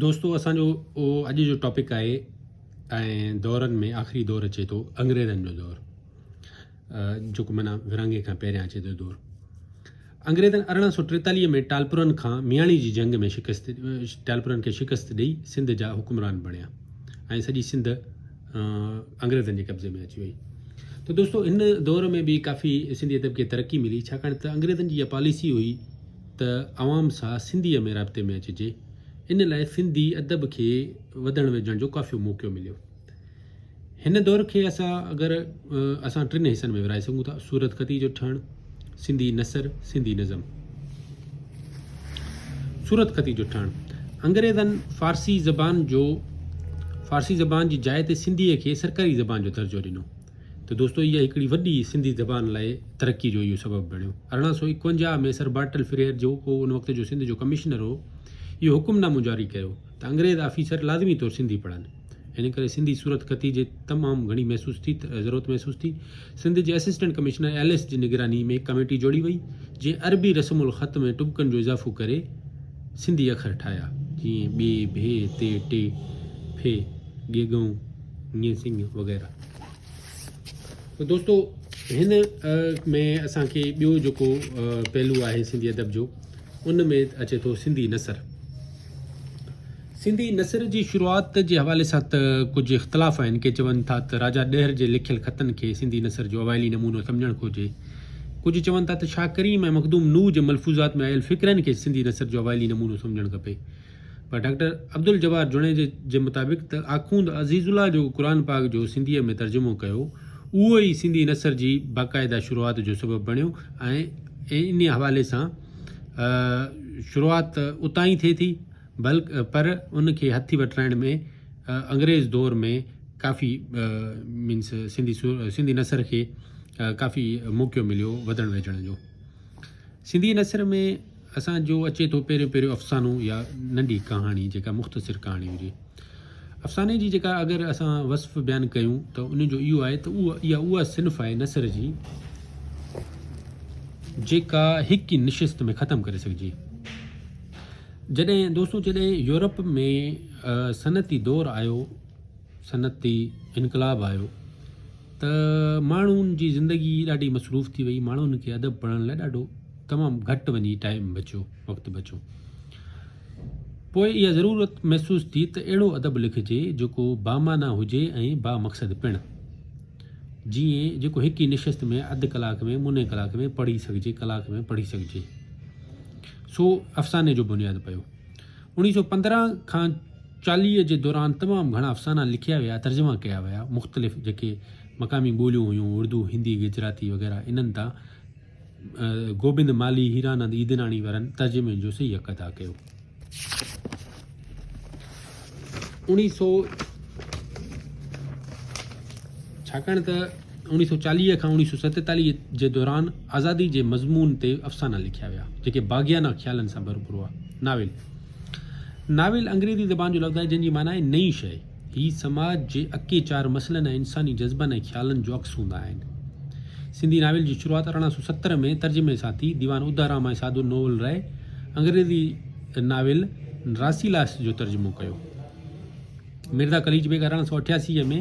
دوستو اسان جو اڄ جو ٽاپڪ آهي ۽ دورن ۾ آخري دور اچي ٿو انگريزن جو دور جيڪو منا ورانگي کان پهريان اچي ٿو دور انگريزن ارڙهن سو ٽيتاليهه ۾ ٽالپورن کان مياڻي جي جنگ ۾ شڪست ٽالپورن کي شڪست ڏئي سنڌ جا حڪمران بڻيا ۽ سڄي سنڌ انگريزن جي قبضي ۾ اچي وئي تو دوستو ان دور ۾ به ڪافي سنڌي ادب کي ترقي ملي ڇاڪاڻ ته انگريزن جي اها پاليسي هئي ته عوام سان سنڌيء ۾ رابطي ۾ اچجي. ان لاء سنڌي ادب کي وڌڻ ويجهڻ جو ڪافيو موقعو مليو. هن دور کي اسان اگر اسان ٽن حصن ۾ ورهائي سگهون ٿا، صورت خطيء جو ٺهڻ، سنڌي نثر، سنڌي نظم. صورت خطيء جو ٺهڻ، انگريزن فارسي زبان جو فارسي زبان جي جاء تي سنڌيء کي سرڪاري زبان جو درجو ڏنو. ته دوستو اها هڪڙي وڏي سنڌي زبان لاء ترقي جو اهو سبب بڻيو. ارڙهن سؤ ايڪونجاهه ۾ سر بارٽل فريئر جو ڪو ان وقت جو سنڌ جو ڪمشنر هو اهو حڪم نامو جاري ڪيو ته انگريز آفيسر لازمي طور سنڌي پڙهن ان ڪري سنڌي صورت خطي جي تمام گهڻي محسوس ٿي ضرورت محسوس ٿي سنڌ جي اسسٽنٽ ڪمشنر ايلس جي نگراني ۾ هڪ ڪميٽي جوڙي وئي جنهن عربي رسم الخط ۾ ٽٻڪن جو اضافو ڪري سنڌي اکر ٺاهيا جيئن ٻي ڀي تي ٽي ڦي ڳي ڳئون ڱي سڱ وغيره. ته دوستو هن ۾ اسان کي ٻيو جيڪو پهلو آهي سنڌي ادب جو ان ۾ اچي ٿو سنڌي نثر سنڌي نثر جي شروعات جي حوالي سان ته ڪجهه اختلاف آهن ڪي چون ٿا ته راجا ڏهر جي لکيل خطن کي سنڌي نثر جو اوائلي نمونو سمجهڻ گهرجي ڪجهه چون ٿا ته شاهه ڪريم ۽ مخدوم نوح جي ملفوظات ۾ آيل فقرن کي سنڌي نثر جو اوائلي نمونو سمجهڻ کپي پر ڊاڪٽر عبدالجبار جوڻيجي جي مطابق ته آخوند عزيز الله جو قرآن پاڪ جو سنڌيء ۾ ترجمو ڪيو، اهو ئي سنڌي نثر جي باقاعده شروعات جو سبب بڻيو ۽ انهيء حوالي سان شروعات اتان ئي ٿئي ٿي، بلڪ پر ان کي هٿي وٺرائڻ ۾ انگريز دور ۾ ڪافي مينس سنڌي سنڌي نثر کي ڪافي موقعو مليو وڌڻ ويجهڻ جو. سنڌي نثر ۾ اسان جو اچي ٿو پهريون پهريون افسانو يا ننڍي ڪهاڻي جيڪا مختصر ڪهاڻي هجي افساني جي جيڪا اگر اسان وصف بيان ڪيون ته ان جو اهو آهي ته اها اها اها صنف آهي نثر جي جيڪا هڪ ئي نشست ۾ ختم ڪري سگهجي جڏهن دوستو جڏهن يورپ ۾ صنعتي دور آيو صنعتي انقلاب آيو ته ماڻهن جي زندگي ڏاڍي مصروف ٿي وئي ماڻهن کي ادب پڙهڻ لاء ڏاڍو تمام گهٽ وڃي ٽائيم بچيو وقت بچيو پوء اها ضرورت محسوس ٿي ته اهڙو ادب لکجي جيڪو بامانا هجي ۽ با مقصد پڻ جي جيڪو هڪ ئي نشست ۾ اڌ ڪلاڪ ۾ مني ڪلاڪ ۾ پڙهي سگهجي ڪلاڪ ۾ پڙهي سگهجي سو افساني جو بنياد پيو انيس سو پندرهن کان چاليهه جي دوران تمام گهڻا افسانا لکيا ويا، ترجما ڪيا ويا، مختلف جيڪي مقامي ٻوليون هيون، اردو، هندي، گجراتي وغيره، انهن تان گوبند مالهي، هيرانند عيدناڻي وارن ترجمي جو صحيح حق ادا ڪيو. اوڻيهه سؤ ڇاڪاڻ ته اوڻيهه سؤ چاليهه کان اوڻيهه سؤ ستيتاليهه جي دوران آزادي جي مضمون تي افسانا لکيا ويا، جيڪي باغيانه خيالن سان ڀرپور هئا، ناول. ناول انگريزي زبان جو لفظ آهي جنهن جي معنيٰ آهي نئين شيء. هي سماج جي اڪي چار مسئلن ۽ انساني جذبن ۽ خيالن جو عڪس هوندا آهن. سنڌي ناول جي شروعات ارڙهن سؤ ستر ۾ ترجمي سان ٿي. ديوان ادارام ۽ سادو نوول ري انگريزي ناول راسيلاس جو ترجمو ڪيو. مرزا قليچ بيگ ارڙهن سؤ اٺياسي ۾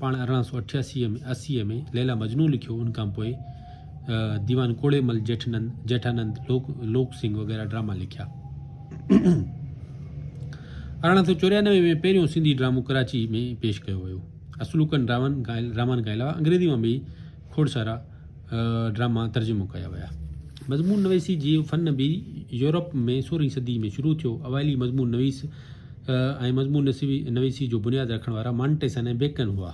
پاڻ ارڙهن سؤ اٺياسي ۾ اسيء ۾ ليلا مجنون لکيو، ان کان پوء ديوان ڪوڙي مل، جيٺنند، جيٺانند، لوڪ لوڪ سنگهه وغيره ڊراما لکيا. ارڙهن سؤ چوريانوي ۾ پهريون سنڌي ڊرامو ڪراچي ۾ پيش ڪيو ويو. اصلوڪن ڊرامن کان ڊرامن کان علاوه انگريزي مان به کوڙ سارا ڊراما ترجمو ڪيا ويا. مضمون نويسي جي فن به يورپ ۾ سورهين صدي ۾ شروع ٿيو. اوائلي مضمون نويس ۽ مضمون نويسي جو بنياد رکڻ وارا مانٽيسن ۽ بيڪن هئا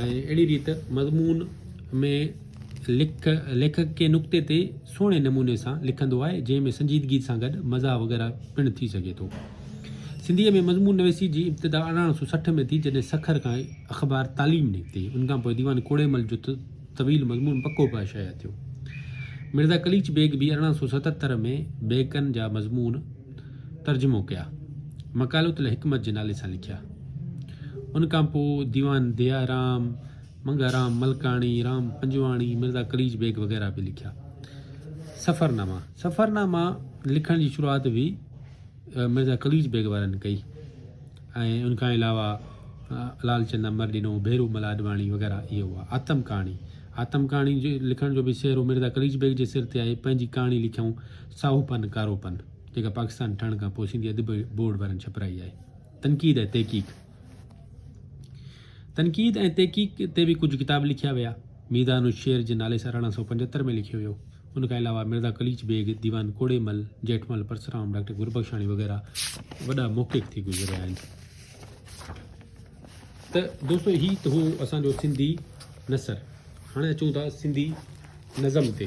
۽ اهڙي ريت مضمون ۾ لک ليکڪ ڪنهن نقطي تي سهڻي نموني سان لکندو آهي جنهن ۾ سنجيدگي سان گڏ مزاح وغيره پڻ ٿي سگهي ٿو. سنڌيء ۾ مضمون نويسي جي ابتدا ارڙهن سو سٺ ۾ ٿي جڏهن سکر کان اخبار تعليم نڪتي، ان کان پوء ديوان ڪوڙي مل جو طويل مضمون پڪو پاء شايع ٿيو. مرزا قليچ بيگ به ارڙهن سؤ ستهتر ۾ بيڪن جا مضمون ترجمو ڪيا. مقالات الحڪمت جي نالي سان لکيا. ان کان پوء ديوان ديا رام، منگها رام ملڪاڻي، رام پنجواڻي، مرزا قليچ بيگ وغيره به لکيا. سفرناما، سفرناما لکڻ جي شروعات به مرزا قليچ بيگ وارن ڪئي ۽ ان کان علاوه لال چند امر ڏنو، ڀيرو مل آڏواڻي وغيره اهي هئا. آتم ڪهاڻي، آتم ڪهاڻي جي لکڻ جو به سهرو مرزا قليچ بيگ جي سر تي آهي، پنهنجي ڪهاڻي لکيائون ساهو پن ڪارو پن جيڪا پاڪستان ٺهڻ کان پوء سنڌي ادبي بورڊ وارن ڇپرائي آهي. تنقيد ۽ تحقيق، تنقيد ۽ تحقيق تي به ڪجهه ڪتاب لکيا ويا، ميدان الشعر جي نالي سان ارڙهن سؤ پنجهتر ۾ لکيو ويو. ان کان علاوه مرزا قليچ بيگ، ديوان ڪوڙي مل، جيٺمل پرسرام، ڊاڪٽر گربخشاڻي وغيره وڏا محقق ٿي گذريا آهن. ته دوستو هي ته هو اسان جو سنڌي نثر. هاڻي اچون ٿا سنڌي نظم تي.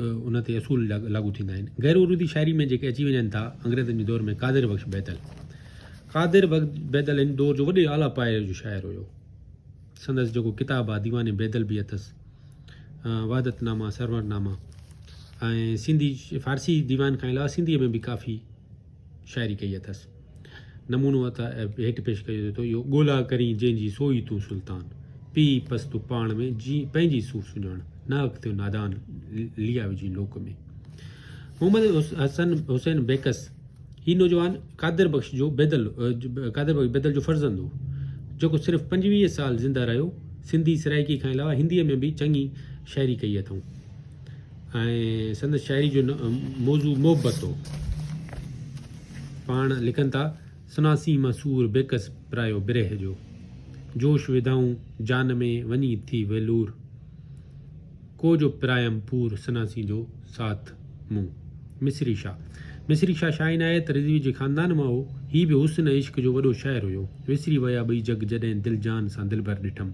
ان تي اصول لاڳو ٿيندا آهن. غير عروضي شاعري ۾ جيڪي اچي وڃن ٿا، انگريزن جي دور ۾ قادر بخش بيدل. قادر بخش بيدل هن دور جو وڏي اعليٰ پايي جو شاعر هيو. سندس جيڪو ڪتاب آهي ديوان بيدل به اٿس، وحدت نامه، سرور نامه ۽ سنڌي فارسي ديوان کان علاوه سنڌيء ۾ به ڪافي شاعري ڪئي اٿس. نمونو اتي هيٺ پيش ڪيو وڃي ٿو، اهو ڳولا ڪرين جنهن جي سو ئي تون سلطان، پيء پس تو پاڻ ۾ جي پنهنجي سو سڃاڻ، ناحق ٿيو نادان ليئا وجهين لوڪ ۾. محمد حسن حسين بيڪس هي نوجوان قادر بخش جو بيدل قادر بخش بيدل جو فرزند هو، جيڪو صرف پنجويهه سال زنده رهيو، سنڌي سرائيڪي کان علاوه هنديء ۾ به چڱي شاعري ڪئي اٿئون. ۽ سندس شاعري جو موضوع محبت هو. پاڻ لکن ٿا، سناسين مان سور بيڪس پرايو برهه جو. جوش وڌائون جان ۾ وڃي ٿي ويلور. ڪو جو پرايم پور سناسين جو ساٿ مون. مصري شاهه مصري شاهه شاهه عنايت رضوي جي خاندان مان هو. هي به حسن ۽ عشق جو وڏو شاعر هيو. وسري ويا ٻئي جڳ جڏهن دل جان سان دلبر ڏٺم.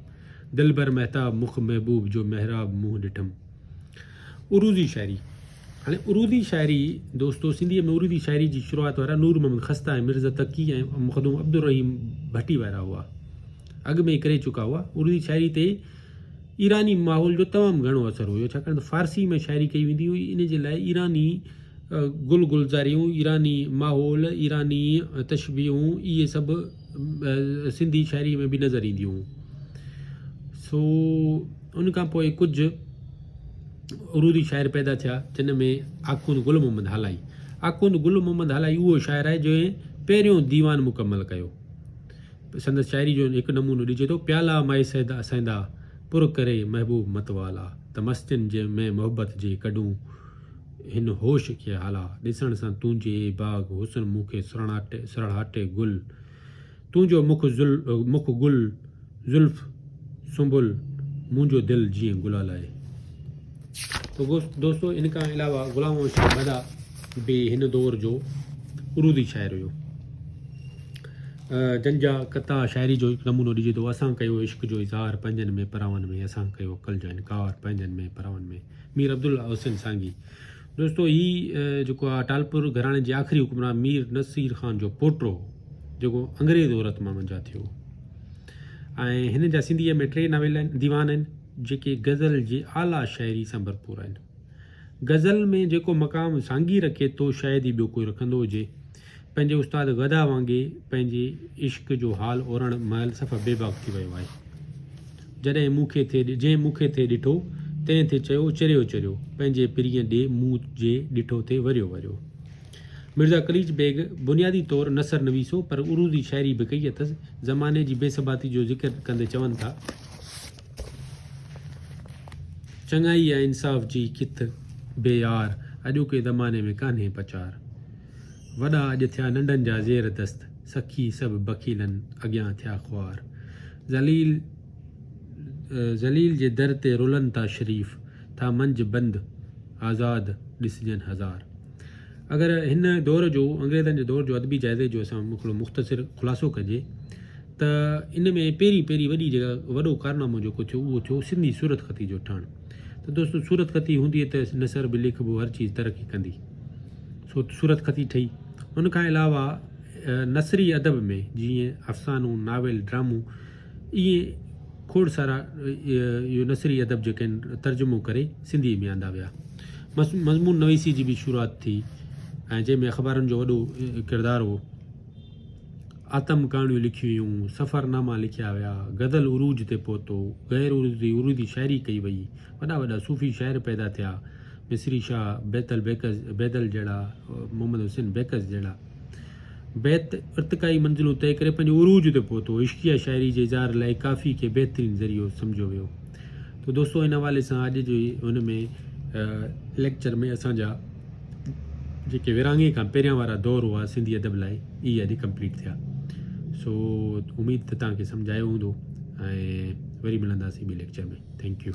دلبر مهتاب مخ محبوب جو محراب منهن ڏٺم. عروضي شاعري، هاڻي عروضي شاعري دوستو سنڌيء ۾ عروضي شاعري جي شروعات وارا نور محمد خسته ۽ مرزا تقي ۽ مخدوم عبدالرحيم ڀٽي وارا هئا. اڳ ۾ ئي ڪري چڪا هئا. عروضي شاعري تي ايراني ماحول جو تمام گهڻو اثر هيو، ڇاڪاڻ ته فارسيء ۾ شاعري ڪئي ويندي هئي، ان جي لاء ايراني گل گلزاريون، ايراني ماحول، ايراني تشبيهون اهي سڀ سنڌي شاعريء ۾ به نظر اينديون هيون. سو ان کان پوء ڪجهه عروضي شاعر پيدا ٿيا جن ۾ آخوند گل محمد هالائي آخوند گل محمد هالائي اهو شاعر آهي جنهن پهريون ديوان مڪمل ڪيو سندس شاعري جو هڪ نمونو ڏجي ٿو پيالا مائي سيدا سيندا پر ڪري محبوب متوالا ته مستين جي ۾ محبت جي ڪڍون هن هوش کي هالا، ڏسڻ سان تنهنجي اي باغ حسن مون کي سرهاٽي گل، تنهنجو مک گل، زلف سنبل، منهنجو دل جيئن گلال آهي. تو دوستو ان کان علاوه غلام محمد شاهه مداح به هن دور جو عروضي شاعر هيو جن جا قطع شاعري جو هڪ نمونو ڏجي ٿو اسان ڪيو عشق جو اظهار پنهنجن ۾ پراون ۾ اسان ڪيو عقل جو انڪار پنهنجن ۾ پراون ۾. مير عبدالله حسين سانگي دوستو هي جيڪو آ ٽالپور گهراڻي جي آخري حڪمران مير نصير خان جو پوٽو هو جيڪو انگريز عورت مان منجها ٿيو ۽ هن جا سنڌيء ۾ ٽي ناول آهن ديوان آهن جيڪي غزل جي اعليٰ شاعري سان ڀرپور آهن غزل ۾ جيڪو مقام سانگي رکي ٿو شايد ئي ٻيو ڪوئي رکندو هجي پنهنجي استاد گدا وانگي پنهنجي عشق جو حال اورڻ مهل صفا بيباڪ ٿي ويو آهي. جڏهن مون کي ٿي جنهن مون کي ٿي ڏٺو، تنهن ٿي چيو چريو چريو، پنهنجي پرينء ڏي مون جي ڏٺو ٿي وريو وريو. مرزا قليچ بيگ بنيادي طور نثر نويس هو پر عروضي شاعري به ڪئي اٿس. زماني جي بي ثباتي جو ذڪر ڪندي چون ٿا. چڱائي ۽ انصاف جي ڪٿ بي يار، اڄوڪي زماني ۾ ڪانهي پچار. وڏا اڄ ٿيا ننڍن جا زير دست، سخي سڀ بخيلن اڳيان ٿيا خوار. ذليل ذليل جي در تي رلن ٿا شريف، ٿا منجهه بند آزاد ڏسجن هزار. اگر هن دور جو انگريزن جي دور جو ادبي جائزي جو اسان هڪڙو مختصر خلاصو ڪجي ته ان ۾ پهرين پهرين وڏي جيڪا وڏو ڪارنامو جيڪو ٿيو اهو ٿيو سنڌي صورت خطي جو ٺهڻ ته دوستو صورت خطي هوندي ته نثر به لکبو هر چيز ترقي ڪندي. صورت خطي ٺهي. ان کان علاوه نثري ادب ۾ جيئن افسانو، ناول، ڊرامو ائين کوڙ سارا اهي نثري ادب جيڪي آهن ترجمو ڪري سنڌيء ۾ آندا ويا. مضمون نويسي جي به شروعات ٿي ۽ جنهن ۾ اخبارن جو وڏو ڪردار هو. آتم ڪهاڻيون لکيون ويون، سفر ناما لکيا ويا، غزل عروج تي پهتو، غير عروضي عروضي شاعري ڪئي وئي، وڏا وڏا صوفي شاعر پيدا ٿيا. مصري شاهه بيتل بيڪز، بيدل جهڙا، محمد حسين بيڪز جهڙا بيت ارتقائي منزلون طئي ڪري پنهنجي عروج تي پهتو. عشقيه شاعري جي اظهار لاء ڪافي کي بهترين ذريعو سمجهيو ويو. ته دوستو ان حوالي سان اڄ جي هن ۾ ليڪچر ۾ اسان جا جيڪي ورهاڱي کان پهريان وارا دور هئا سنڌي ادب لاء اهي اڄ ڪمپليٽ ٿيا. سو اميد ته تان کي سمجهايو هوندو ۽ وري ملنداسين ٻي ليڪچر ۾ ٿينڪ يو.